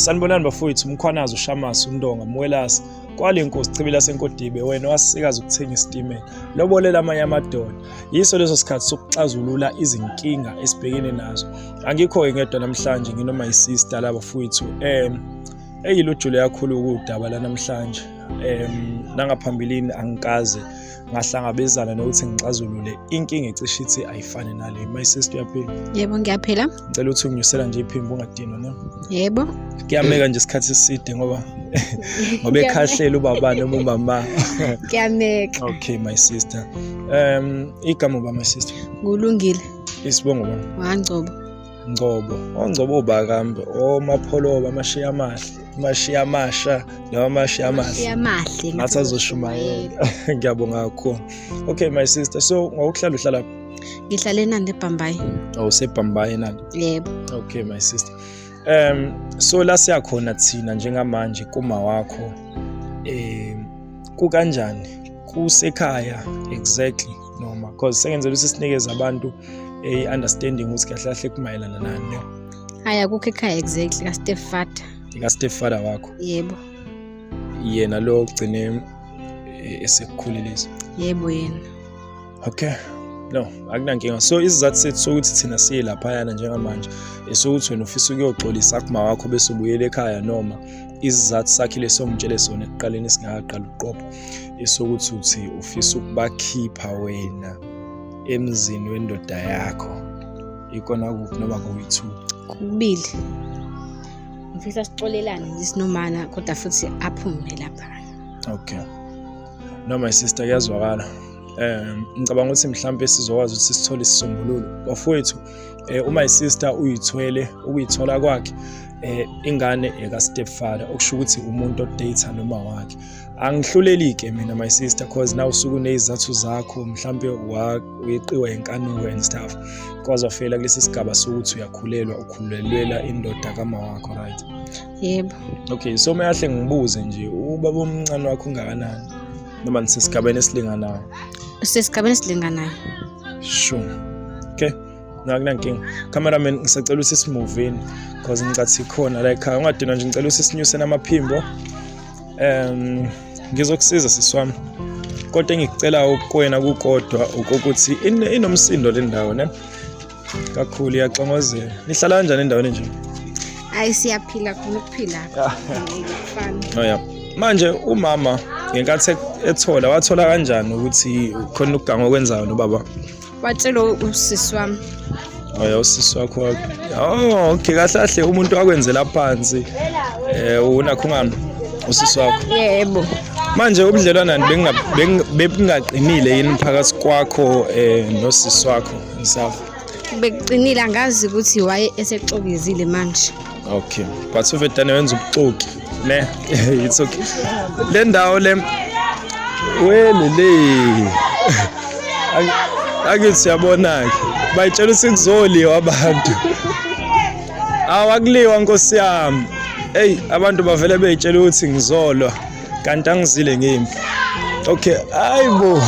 Sanibonani bafowethu umkhwanazi ushamasi undonga mwelasi kwale nkosi chibila senkodibe wena wasikaza ukuthenga isitimela lobolela amanye amadoda yiso leso sikhathi sokuxazulula izinkinga esibhekene nazo angikho-ke ngedwa namhlanje nginoma yisista laba fowethu um eyilujule kakhulu kuwudaba lanamhlanje um nangaphambilini angikaze ngahlangabezana nokuthi ngixazulule inkinga ecishe ithi ayifane nale my sister uyaphila yebo ngiyaphila ngicela ukuthi unginyusela nje iphimbo ungadinwa no yebo kuyameka nje isikhathi eside ngoba ngoba ekhahlela ubaba noma umama kuyameka okay my sister um igama uba my sister ngulungile isibongo bani wangcobo Ngcobo, oNgcobo bakambe, oMapholoba, amashiya amahle, amashiya amasha noma amashiya amahle. Yamahle. Ngathi azoshumayela. Ngiyabonga kakhulu. Okay my sister, so ngokuhlala uhlala phi? Ngihlale eNanda eBhambayi. Oh, useBhambayi nani? Yebo. Okay my sister. Um so la siyakhona thina njengamanje kuma wakho eh kukanjani kusekhaya exactly noma because sengenzela ukuthi sinikeze abantu i-understanding ukuthi kahle kahle kumayelana nani no hayi akukho ekhaya exactly ka-step father ika-step father wakho yebo yena lo ogcine e, esekukhulelisa yebo yena okay no akunankinga so isizathu sethu sokuthi thina siye laphayana njengamanje esokuthi wena ufisa ukuyoxolisa kuma wakho bese ubuyela ekhaya noma isizathu sakhe lesongitshele sona ekuqaleni singakaqali ukuqopha esokuthi uthi ufisa ukubakhipha wena emzini wendoda yakho ikona kuphi noma kuyi-two kubili ngifisa sixolelane ngisinomana kodwa futhi aphume lapha okay no my sister kuyazwakala um ngicabanga ukuthi mhlawumbe sizokwazi ukuthi sithole isisombululo bafowethu um uma isister uyithwele ukuyithola kwakhe um ingane eka-step father okusho ukuthi umuntu odata noma wakhe angihluleli-ke mina my sister cause na usuke uneyizathu zakho mhlawumbe uyeqiwa yenkanuko and stuff cause wafela kulesi sigaba sokuthi uyakhulelwa ukhulelwela indoda kama wakho right yebo okay so meyahle ngibuze nje ubaba omncane wakho ungakanani noma nisesigabeni esilinganayo usesigabeni esilinganayo sure okay nakunankinga cameraman ngisacela usisimuveni cause ngicathi khona la ekhaya ungadinwa nje ngicela usisinyuse namaphimbo um ngizokusiza sisi wami kodwa engikucelayo kuwena kukodwa ukuthi inomsindo le ndawo ne kakhulu iyaxongozela nihlala kanjani endaweni nje hayi siyaphila khona ukuphila ah. oh, ya manje umama ngenkathi ethola wathola kanjani ukuthi khona ukuganga okwenzayo nobaba watshela usisi wami oya oh, usisi wakho oh okay kahle kahle umuntu wakwenzela phansi eh unakho ngami usisi wakho yebo manje ubudlelwana bengingaqinile yini phakathi kwakho eh nosisi wakho ngisafa bekuqinile angazi ukuthi waye esexokezile manje okay but uvedane wenza ubuxoki ne it's okay le ndawo le welele ake siyabona ke bayitshela ukuthi kuzoliwa abantu awakuliwa nkosi yami hey abantu bavele beyitshela ukuthi ngizolwa kanti angizile ngimpi okay hayibo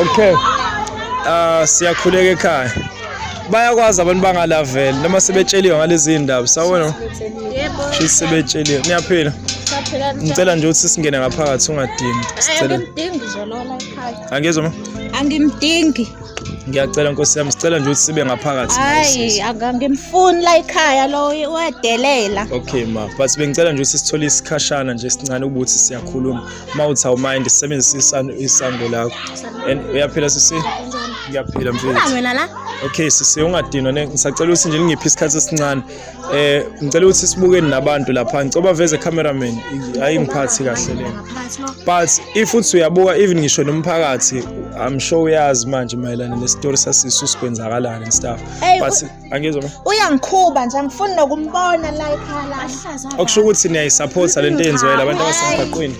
okay ah siyakhuleka ekhaya bayakwazi abantu bangalaveli noma sebetsheliwe ngalezi iy'ndaba sawona yebo shisi sebetsheliwe niyaphila saphela ngicela nje ukuthi singene ngaphakathi ungadini sicela angimdingi zolola ekhaya angizwa ma angimdingi ngiyacela nkosi yami sicela nje ukuthi sibe ngaphakathi hayi angangimfuni la ekhaya lo uyadelela okay ma but bengicela nje ukuthi sithole isikhashana nje sincane ukuthi siyakhuluma uma uthi awumind sisebenzisa isango lakho and uyaphila sisi ngiyaphila mfethu wena la okay sisi ungadinwa ngisacela ukuthi nje ngiphi isikhathi esincane eh ngicela ukuthi sibukeni nabantu lapha ngicoba veze cameraman hayi ngiphathi kahle le but if uthi uyabuka even ngisho nomphakathi i'm sure uyazi manje mayelana ne story sasisu sikwenzakalana and stuff but angizwa mina uyangikhuba nje angifuni nokumbona la ekhaya la okusho ukuthi niyayisapotha lento eyenziwayo labantu abasemgaqweni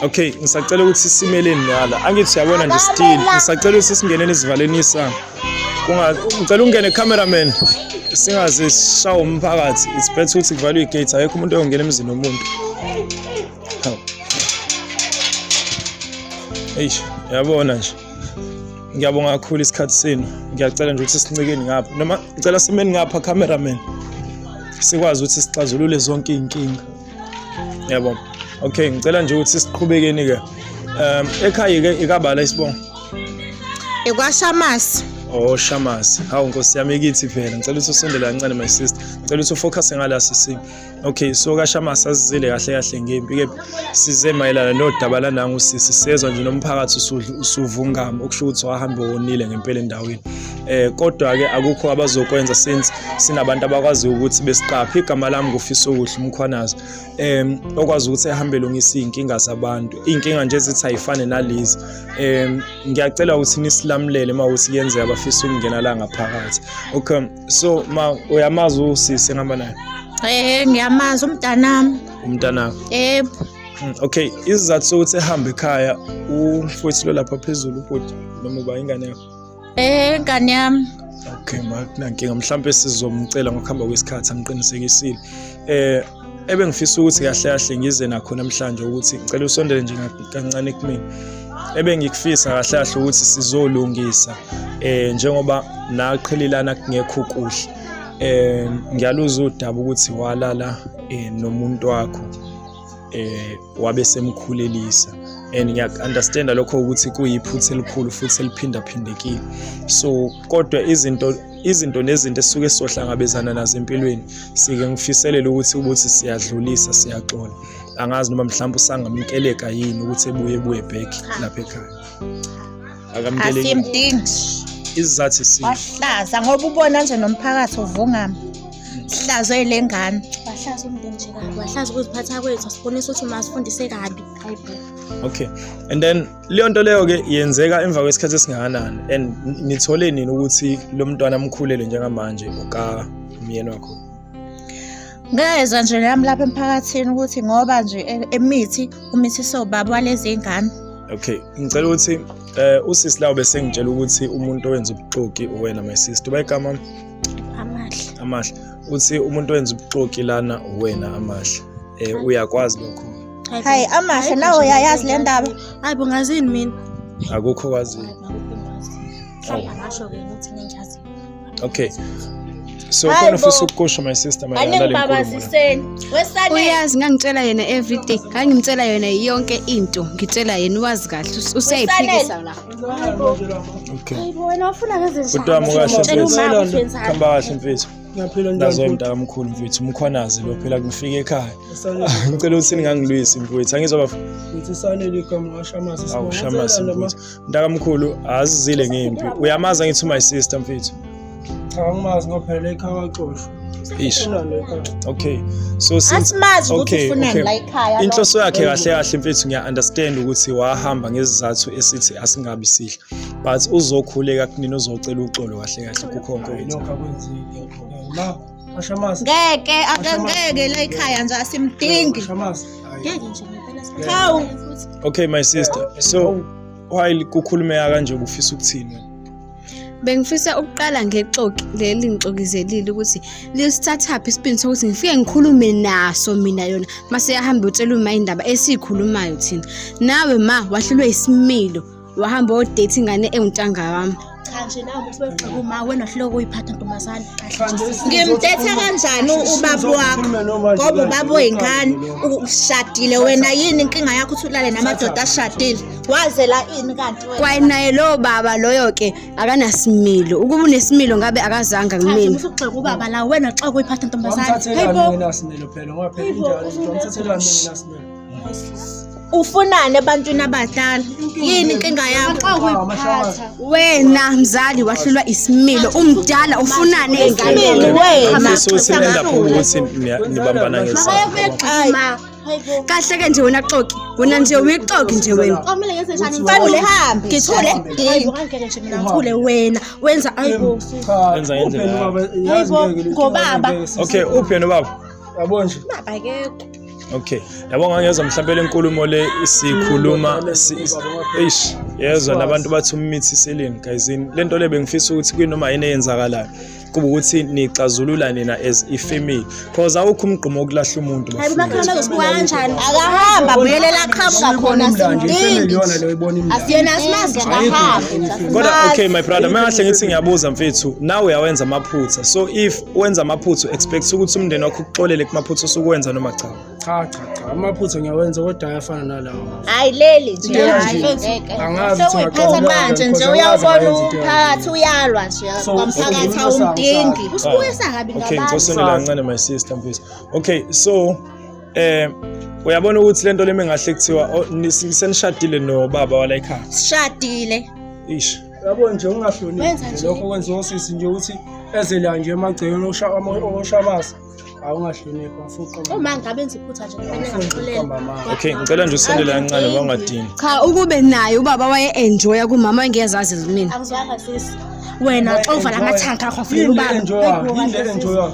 okay ngisacela ukuthi simeleni ngala angithi siyabona nje still ngisacela ukuthi singeneni isivaleni isango ngicela ungene cameraman singaze sishawe umphakathi it's better ukuthi kuvalwe igate ayekho umuntu oyongena emzini womuntu eish yabona nje ngiyabonga kakhulu isikhathi senu ngiyacela nje ukuthi sincikeni ngapha noma ngicela simeni ngapha cameraman sikwazi ukuthi sixazulule zonke iy'nkinga yabo okay ngicela nje ukuthi siqhubekeni-ke um ekhaya-ke ikabala isibongo ikwashamasi oh shamasi hawu nkosi yami kithi phela ngicela ukuthi usondele kancane my sister ngicela ukuthi ufocusse ngala sisi Okay so kashama sasizile kahle kahle ngempi ke size mayelana nodaba lananga usisi sezwa nje nomphakathi usudla usuvungama okusho ukuthi wahambe wonile ngempela endaweni eh kodwa ke akukho abazokwenza since sinabantu abakwazi ukuthi besiqaphe igama lami ngufisa ukuhle umkhwanazi em okwazi ukuthi ehambe lungisa izinkinga zabantu izinkinga nje ezithi ayifane nalezi em ngiyacela ukuthi nisilamulele mawuthi kuyenzeka bafisa ukungena la ngaphakathi okay so ma uyamazi usisi ngihamba naye Eh ngiyamazi umntanami. umntanakho Yebo. Mm, okay isizathu sokuthi ehambe ekhaya umfowethu lo lapha phezulu ubhuti noma uba ingane yakho Eh ngane yami. okay makunankinga mhlawumpe sizomcela ngokuhamba kwesikhathi angiqinisekisile um ebengifisa ukuthi kahle kahle ngize nakho namhlanje ukuthi ngicela usondele nje kancane kumina ebengikufisa kahle kahle ukuthi sizolungisa eh njengoba naqhelelana kungekho kuhle eh ngiyaluza udaba ukuthi walala eh nomuntu wakho eh wabe semkhulelisa and ngiyaku-understanda lokho ukuthi kuyiphutha elikhulu futhi eliphindaphindekile so kodwa izinto izinto nezinto esuke sizohlangabezana nazo empilweni sike ngifiselele ukuthi ukuthi siyadlulisa siyaxola angazi noma mhlawumbe usangamkeleka yini ukuthi ebuye ebuye back lapha ekhaya akamkeleki asimdingi isizathu isinye wahlaza ngoba ubona nje nomphakathi uvungama sihlazwe ile ngane wahlaza umndeni nje kabi wahlaza ukuziphatha kwethu asibonisa ukuthi masifundise kabi hayi bo okay and then leyo nto leyo ke yenzeka emva kwesikhathi esingakanani and nithole nini ukuthi lo mntwana amkhulele njengamanje uka umyeni wakho Ngezwa nje nami lapha emphakathini ukuthi ngoba nje e- emithi umithiso ubaba walezi ngane. Okay, ngicela ukuthi eh usisi lawo bese ngitshela ukuthi umuntu owenza ubuxoki uwena my sister. Bayigama Amahle. amahle. Uthi umuntu owenza ubuxoki lana uwena amahle. Eh uyakwazi lokho. Hayi amahle nawe uyayazi le ndaba. Hayi bo ngazini mina. Akukho kwazi. Hayi angasho ke ukuthi nenjazi. Okay. So Hi, khona ufisa ukukusho my sister mayelana nale nkulumo. Uyazi ngangitshela yena everyday. Ngangimtshela yona yonke into. Ngitshela yena wazi kahle usayiphikisa la. Okay. Hayibo wena ufuna ngezinto. Kodwa mukahle mfethu. Khamba kahle mfethu. Ngiyaphila njalo. Nazo imntaka mkhulu mfethu umkhwanazi lo phela ngifike ekhaya. Ngicela ukuthi ningangilwisi mfethu. Angizwa bafo. Ngithi sanele igama washamasa. Awushamasa mfethu. Ntakamkhulu azizile ngempi. Uyamazi angithi my sister mfethu. Cha angimazi ngophela ekhaya waxoshwa. Ish. Unalo ekhaya. Okay. So since asimazi ukuthi Okay, ufunani okay. la ekhaya inhloso yakhe kahle kahle mfethu ngiya-understand ukuthi wahamba ngezizathu esithi asingabi sihle but uzokhuleka kunini uzocela uxolo kahle kahle kukho konke Hayi, okwenzile. nokho akwenzeki. Ngibona. Ashamasi. Ngeke akangeke la ekhaya nje asimdingi. Ashamasi. Ngeke nje ngempela sikhathi. Hawu. Okay my sister. So why kukhulumeka kanje ubufisa ukuthini? Bengifisa ukuqala ngexoki leli ngixokizelile ukuthi lisithathaphi isipini sokuthi ngifike ngikhulume naso mina yona mase yahamba utshela uma indaba esikhulumayo thina nawe ma wahlulwe isimilo wahamba wodate ingane ewuntanga wami cha nje nawe ukuthi weqe kuma wena hloko uyiphatha ntombazane kahle nje sisi. ngimdetha kanjani ubaba wakho ngoba ubaba oyingane ushadile wena yini inkinga yakho ukuthi ulale namadoda ashadile wazela ini kanti wena kwaye naye lowo baba loyo ke akanasimilo ukuba unesimilo ngabe akazanga Cha nje kumina musa ugxeka ubaba la wena xa kuyiphatha ntombazane Wamthathelani hayibo mina similo phela ngoba phela Hayibo, injalo ukuthi wamthathelani mina similo ufunani ebantwini abadala yini inkinga yakho wena mzali wahlulwa isimilo umdala ufunani enganeni wena kahle ke nje wena xoki wena nje uyixoki nje wena fanele hambe ngithule ngithule wena wenza ayibo wenza ngendlela ayibo ngobaba okay uphi wena baba yabona nje baba akekho Okay. Yabo ngangezwa mhlawumbe lenkulumo le sikhuluma eish yezwa nabantu bathi umithi seleni guys lento le bengifisa ukuthi kwinoma yini eyenzakalayo kuba ukuthi nixazulula nina as i family because awukho umgqumo okulahla umuntu akahamba buyelela qhamuka khona sindingi asiyena simazi akahamba kodwa okay my brother mangahle ngithi ngiyabuza mfethu nawe uyawenza amaphutha so if wenza amaphutha expect ukuthi umndeni wakho ukuxolele kumaphutha osukuwenza noma cha cha cha cha amaphutha ngiyawenza kodwa ayafana nalawo hayi leli nje angazi sewuyiphatha manje nje uyawubona umphakathi uyalwa nje kwamphakathi awumdingi ah. usibuyisa kabi ngabantu okay ngizosondela kancane my sister mfisi okay so eh uyabona ukuthi lento lemi ngahle kuthiwa oh, senishadile nobaba wala ekhaya sishadile ish yabo nje ungahloniphi nje lokho kwenziwa osisi nje ukuthi ezela nje emagcekeni oshabasa awungahloniphi afuqa uma ngabe enza iphutha nje kufanele ngaxolela okay ngicela nje usondele kancane bangadini cha ukube naye ubaba waye enjoya kumama engezazi mina angizwanga sisi wena xa uvala amathanka akho funa ubaba yini le enjoyayo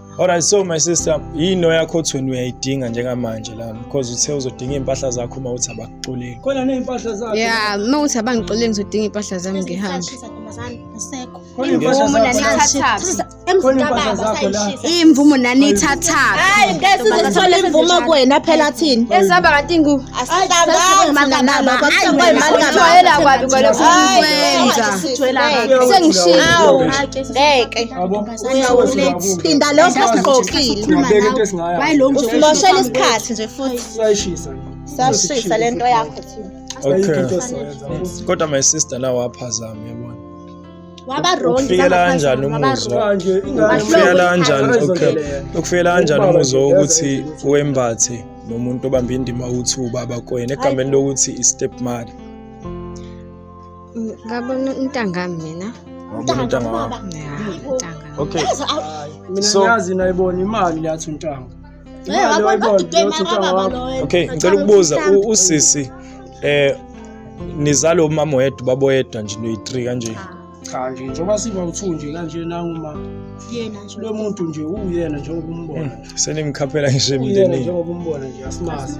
Alright so my sister yini oyakho othweni uyayidinga njengamanje la because uthe uzodinga impahla zakho uma uthi abakuxoleli. Khona nezimpahla zakho. Yeah, uma uthi abangixoleli ngizodinga impahla zami ngihambe. imvumo naniyithathaphi hayi ngeke sizithole imvumo kuwena phela thini esihamba kanti ngu asihlanganaokuthwayela kwabi kwalokwenza sengishilo ngeke phinda lokho ogqokile usimoshela isikhathi nje futhi sashisa le nto yakho kodwa my sister nawe waphazama yabona wabarongifikela kanjani umuzwafikela kanjani okay ukufikela kanjani umuzwa wokuthi wembathe nomuntu obambe indima ukuthi ubaba kwena egameni lokuthi i-step mother ngabona intanga mina wabona intanga wakho okay so yazi nayibona imali yathi intanga okay ngicela ukubuza usisi eh nizalo umama wedwa babo yedwa nje noyi-3 kanje cha nje njengoba siba uthu nje kanje nanguma yena nje lo muntu nje uyena njengoba umbona hmm, senimkhaphela nje emndenini njengoba umbona nje asimazi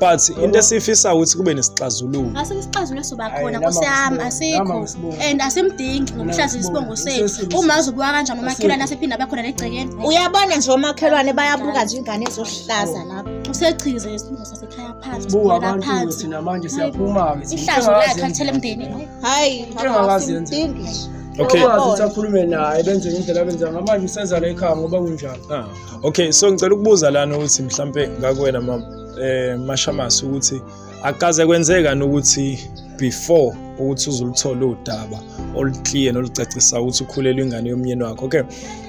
but into esiyifisa ukuthi kube nesixazululo asisixazululo sobakhona kusiyami asikho and asimdingi ngokuhlaza isibongo sethu uma uzobuka kanjani umakhelwane asephinde abakhona negcekeni uyabona nje omakhelwane bayabuka nje ingane ezohlaza lapho usechize isibongo sasekhaya phansi buka abantu thina manje siyaphuma ke ihlazo lakhe athele emndeni hayi asimdingi okay akhulume naye benze indlela benza ngamanje usenza la ekhaya ngoba kunjalo ah. okay so ngicela ukubuza lana ukuthi mhlampe ngakuwena ma eh mashamasi ukuthi akaze kwenzeka nokuthi before ukuthi uzuluthola udaba oluclear nolucacisa ukuthi ukhulelwe ingane yomyeni wakho okay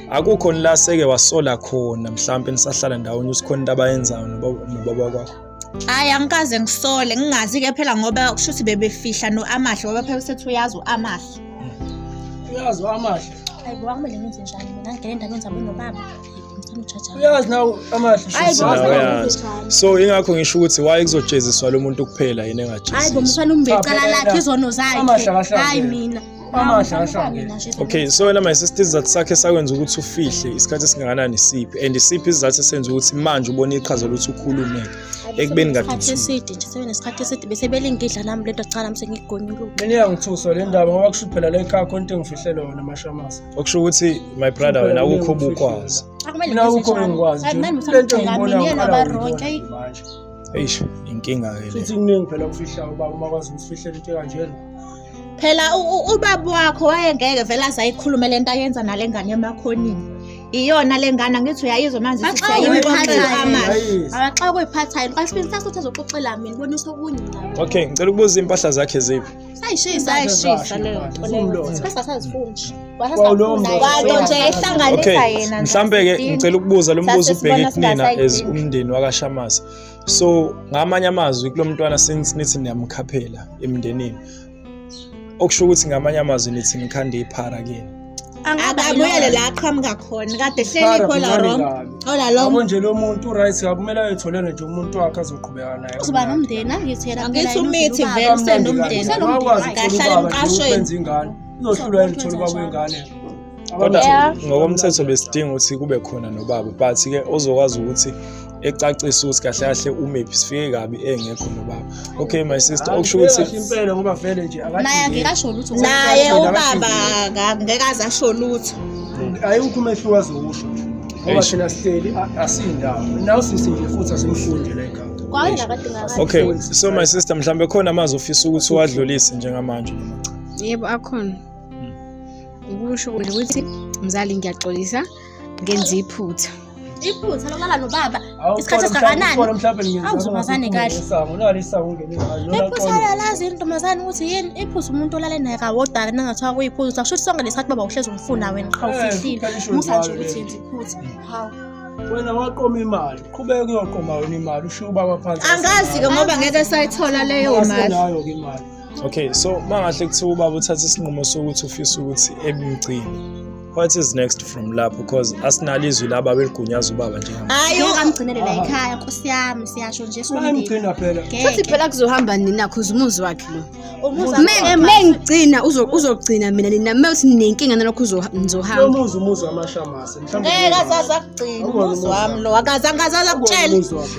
akukho nila seke wasola khona mhlampe nisahlala ndawonye usikhona into abayenzayo nobaba kwakho Hayi angikaze ngisole ngingazi ke phela ngoba kusho ukuthi bebefihla no-amahle ngoba phela usethi uyazi u-amahle uyazi amahle Hayi bo akumele ngenze njani mina ngene endabeni zabo nobaba. Ngicela ujaja. uyazi nawe amahle Hayi bo Uyazi. akumele ngenze njani. so ingakho ngisho ukuthi waye kuzojeziswa lo muntu kuphela yini Hayi bo engajeziswa mfana umbe icala lakhe izono zakhe. Amahle akahlangene. Hayi mina. okay so wena my sister isizathu sakhe sakwenza ukuthi ufihle isikhathi esingakanani siphi and isiphi isizathu esenza ukuthi manje ubone iqhaza lokuthi ukhulume ekubeni ngadikhathi eside nje sebenesikhathi eside bese belingidla nami lento cala mse ngigonyuluka mina iyangithusa le ndaba ngoba kusho phela le khakho into engifihlele wona mashamasa okusho ukuthi my brother wena awukho bukwazi akumele ngikho ngikwazi nami ngicela mina yena baronke eish inkinga ke le futhi kuningi phela kufihlayo uba uma kwazi ukufihlela into kanjena phela ubaba wakho wayengeke vele azayikhulume le nto ayenza nale ngane emakhonini iyona le ngane angithi uyayizwa manje abaxa kuyiphathayo kwasibini sase uthi azoxoxela mina bonisa okunye okay ngicela ukubuza iy'mpahla zakhe ziphi sayishisa sayishisa leyo nto leyo sasazifunji wasazifundayo nje ehlanganisa yena mhlawumbe-ke ngicela ukubuza lo mbuzo ubheke kunina as umndeni wakashamazi so ngamanye amazwi kulo mntwana since nithi niyamkhaphela emndenini okusho ukuthi ngamanye amazwi nithi nikhande iphara kini akabuyele la aqhamuka khona kade hleli khola wrong ola lo abo nje lo muntu right akumele ayetholele nje umuntu wakhe azoqhubeka naye uzoba nomndeni angithela angithi umithi vele usenomndeni usenomndeni kahlala emqashweni uzohlulwa yini ukuthola ubaba wengane kodwa Yeah. ngokomthetho besidinga ukuthi kube khona nobaba but ke ozokwazi ukuthi ecacise ukuthi kahle kahle umephi sifike kabi engekho nobaba okay my sister okusho ukuthi impela ngoba vele nje naye akadingi angeke asho lutho naye Akadingi, ubaba akadingi. aka- ngeke aze asho lutho ayikho umehluko azowusho ngoba Eish. thina sihleli a- asindawo nawu sisi nje futhi asimfundi la ekhaya kwaye nakadingakala okay so my sister mhlawumbe khona amazwi ofisa ukuthi uwadlulise njengamanje yebo akhona ukusho nje ukuthi mzali ngiyaxolisa ngenza iphutha iphutha lokulala nobaba isikhathi esingakanani awuzumazane kahle iphutha lalazi intombazane ukuthi yini iphutha umuntu olale naye kawodala nangathiwa kuyiphutha kusho ukuthi sonke lesikhathi baba uhlezi umfuna wena qha eh, ufihlile musa nje ukuthi yenza iphutha hawu wena waqoma imali qhubeka uyoqoma wena imali ushiye ubaba phansi angazi-ke ngoba ngeke sayithola leyo mali okay so mangahle kuthiwa ubaba uthatha isinqumo sokuthi ufisa ukuthi ebumgcini what is next from lapho because asinalo izwi laba beligunyaza ubaba njengamanje hayi ungamgcinele la ekhaya nkosi yami siyasho nje bayamgcina phela futhi phela kuzohamba nina cause umuzi wakhe lo mengigcina uzogcina mina nina mewuthi ninenkinga nalokho uzohamba umuzi umuzi wamashamasa ngeke azaze akugcina umuzi wami lo akaze angaze azakutshela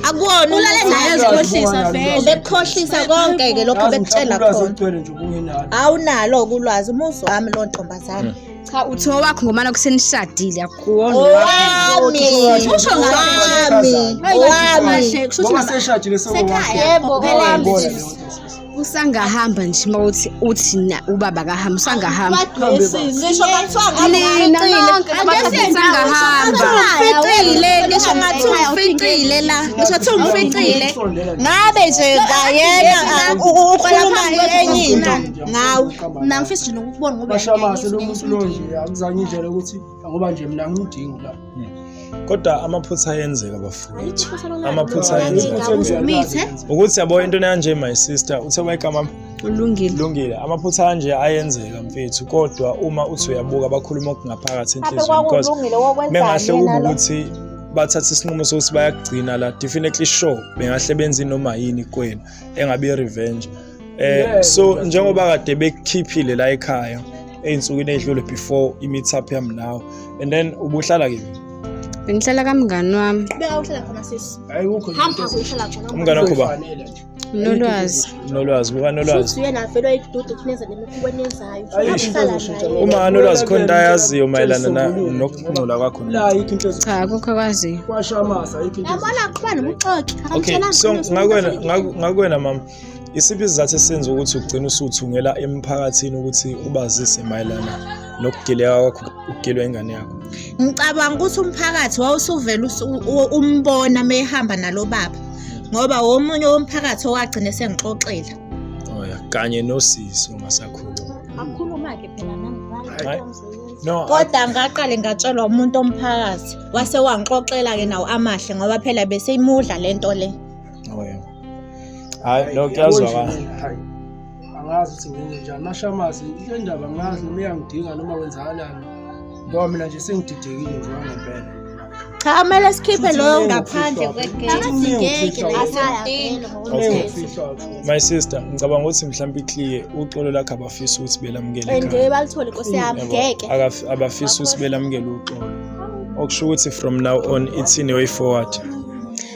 akuwona ulale naye azikhohlisa vele ubekukhohlisa konke-ke lokho bekutshela khona awunalo kulwazi umuzi wami lo ntombazane hmm. cha uthi owakho ngomana kusenishadile akuwona owami usho ngami owami kusho ukuthi yebo owami usangahamba nje uma uthi uthi na ubaba kahamba usangahamba ngisho ngathiwa nina nonke usangahamba uficile ngisho ngathi uficile la ngisho ngathi uficile ngabe nje ngayena ukhuluma enye into ngawe mina ngifisa nje nokubona ngoba bashamase lo muntu lo nje akuzange indlela ukuthi ngoba nje mina ngimdingi la kodwa amaphutha ayenzeka bafowethu amaphutha ayenzeka ukuthi yabo into nanje my sister uthe wayigama kulungile kulungile amaphutha anje ayenzeka mfethu kodwa uma uthi uyabuka bakhuluma okungaphakathi enhlizweni because mengahle kube ukuthi bathatha isinqumo sokuthi bayakugcina la definitely sure bengahle benze noma yini kwenu engabe i-revenge eh so njengoba kade bekukhiphile la ekhaya ezinsukwini ezidlule before i-meet up yami nawe and then ubuhlala kimi bengihlala kamngani wami beka uhlala khona sisi hayi kukho hamba uhlala khona umngani wakho ba nolwazi nolwazi kuba nolwazi uyena vele wayidudu kunenza nemikhuweni enzayo uma anolwazi khona into ayaziyo mayelana nokungcola kwakho cha akukho akwaziyo yabona qhubana nobuxoki okay so ngakwena ngakwena mama Isiphi isizathu esenza ukuthi ugcine usuthungela emphakathini ukuthi ubazise mayelana nokugileka kwakho ukugilwa ingane yakho? Ngicabanga ukuthi umphakathi wawusuvele umbona mehamba nalo baba ngoba womunye womphakathi owagcina esengixoxela. Oh ya, kanye nosisi ungasakhuluma. Akhuluma ke phela nami. No. Kodwa ngaqale ngatshelwa umuntu omphakathi wase wangixoxela ke nawo amahle ngoba phela beseyimudla lento le. okay hayi no kuyazwakala angazi ukuthi ngenze njani mashamazi le ndaba ngazi noma iyangidinga noma wenzakalani ngoba mina nje sengididekile nje wangempela cha kumele sikhiphe loyo ngaphandle my sister ngicabanga ukuthi mhlawumbe ikliye uxolo lakhe abafisa ukuthi belamukele balithole nkosi yami ngeke abafisa ukuthi belamukele uxolo okusho ukuthi from now on ithini way forward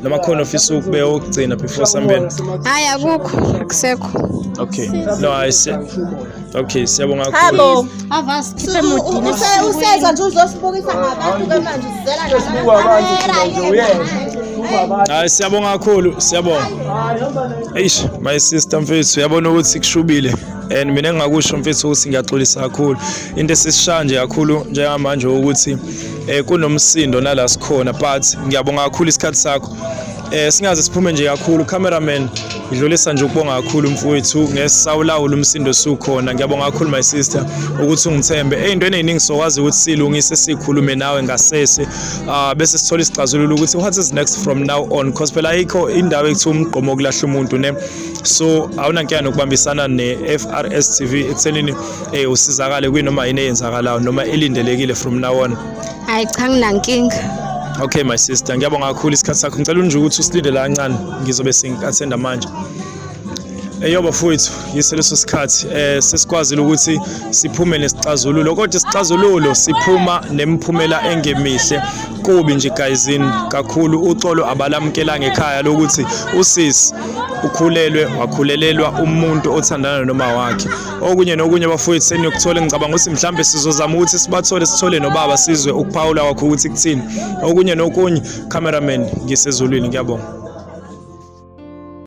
noma khona ofisa ukube okugcina before sambeni hayi akukho akusekho okay no i said okay siyabonga kakhulu avas khipe mudini useza nje uzosibukisa ngabantu ke manje sizela nje hayi siyabonga kakhulu siyabonga eish my sister mfethu uyabona ukuthi kushubile and mina engingakusho mfethu ukuthi ngiyaxolisa kakhulu into esisishaya nje kakhulu njengamanje ukuthi eh kunomsindo nala sikhona but ngiyabonga kakhulu isikhathi sakho eh singaze siphume nje kakhulu cameraman ngidlulisa nje ukubonga kakhulu mfowethu ngesawulawula umsindo sukhona ngiyabonga kakhulu my sister ukuthi ungithembe eyintweni eziningi sokwazi ukuthi silungise sikhulume nawe ngasese ah bese sithola isixazululo ukuthi what is next from now on because phela ayikho indawo ekuthiwa umgqomo kulahla umuntu ne so awunankinga nokubambisana ne-FRS TV ekuthenini eh usizakale kwinoma yini eyenzakalayo noma elindelekile from now on hayi cha nginankinga okay my sister ngiyabonga kakhulu isikhathi sakho ngicela unje ukuthi usilindele kancane ngizobe sengi-attenda manje eyoba eh, futhi yise leso sikhathi eh sesikwazile ukuthi siphume nesixazululo kodwa isixazululo siphuma nemiphumela engemihle kubi nje guysin kakhulu uxolo abalamukela ngekhaya lokuthi usisi ukhulelwe wakhulelelwa umuntu othandana noma wakhe okunye nokunye bafowethu seniyokuthola ngicabanga ukuthi mhlawumbe sizozama ukuthi sibathole sithole nobaba sizwe ukuphawula kwakho ukuthi kuthini okunye nokunye cameraman ngisezulwini ngiyabonga